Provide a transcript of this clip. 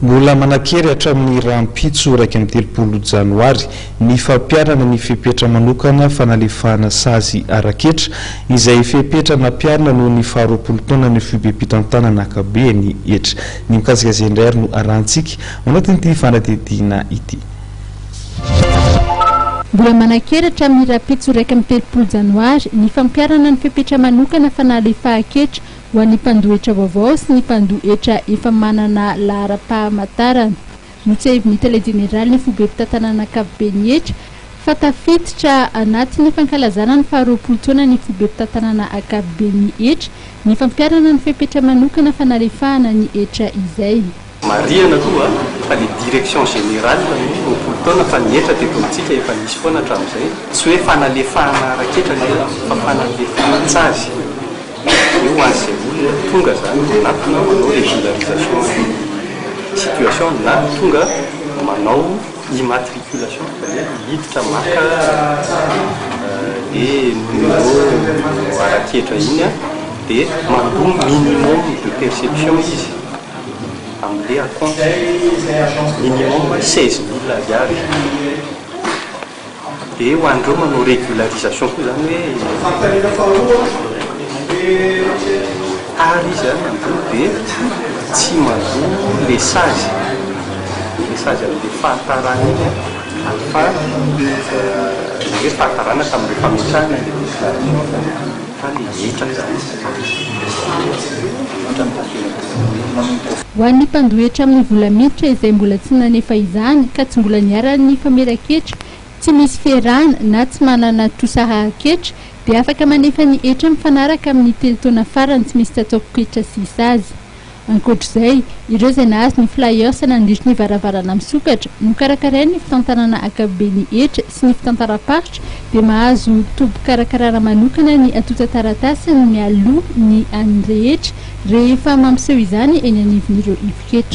Mbola manan-kery hatramin'ny rahampitso iraika amby telopolo janoary ny fampiharana ny fepetra manokana fanalefahana sazy ara-ketra, izay fepetra nampiharina noho ny faharoapolo taonan'ny foibem-pitantanana ankabeny. Hetra. Ny mikasika izay indray ary no arahintsika ao anatin'ity fanadihadiana ity. Mbola manan-kery hatramin'ny rahampitso iraika amby telopolo janoary ny fampiharana ny fepetra manokana fanalefahan-ketra Ho an'ny mpandohetra vaovao sy ny mpandohetra efa manana laharam-pahamantarana, notsehivin'ny Tale Jeneralin'ny Foibe Mpitantanana Ankapoben'ny hetra fa tafiditra anatin'ny fankalazana ny faharoapolo taona ny Foibe Mpitantanana Ankapoben'ny hetra ny fampiharana ny fepetra manokana fanalefahana ny hetra izay. Marihana aloha fa ny direction générale no roapolo taona fa ny hetra teto amintsika efa nisy foana hatramin'izay. Tsy hoe fanalefahana ara-ketra ny hetra fa fanalefahan-tsazy. Dia ho an'izay olona tonga izany dia na tonga manao régularisation de situation na tonga manao immatriculation izany hoe hiditra maka le numéro ara-ketra iny dia mandoa minimum de perception izy. Amble à compte minimum seize mille ariary dia ho an'ireo manao régularisation koa izany hoe tara izy any ambony dia tsy mandoa ilay sazy, ilay sazy amin'ilay fahatarana iny an, ary fa ilay hoe fahatarana tamin'ilay fametrahana ilay déclaration. Ho an'ny mpandohetra amin'ny vola miditra izay mbola tsy nanefa izany ka tsy mbola niharan'ny nifamera ketra, tsy misy fierana na tsy manana trosa hahaketra dia afaka manefa ny hetra mifanaraka amin'ny telo taona farany tsy misy tsatsaopoketra sy sazy. Ankoatra izay, ireo izay nahazo ny flyers nandritry ny varavarana misokatra nokarakarain' ny fitantanana ankapobe ny hetra sy ny fitantaram-paritra dia mahazo tobim-pikarakarana manokana ny antontan-taratasiny mialoha ny an' ny rehetra rehefa mampiseho izany eny anivon' ireo ivo-ketra.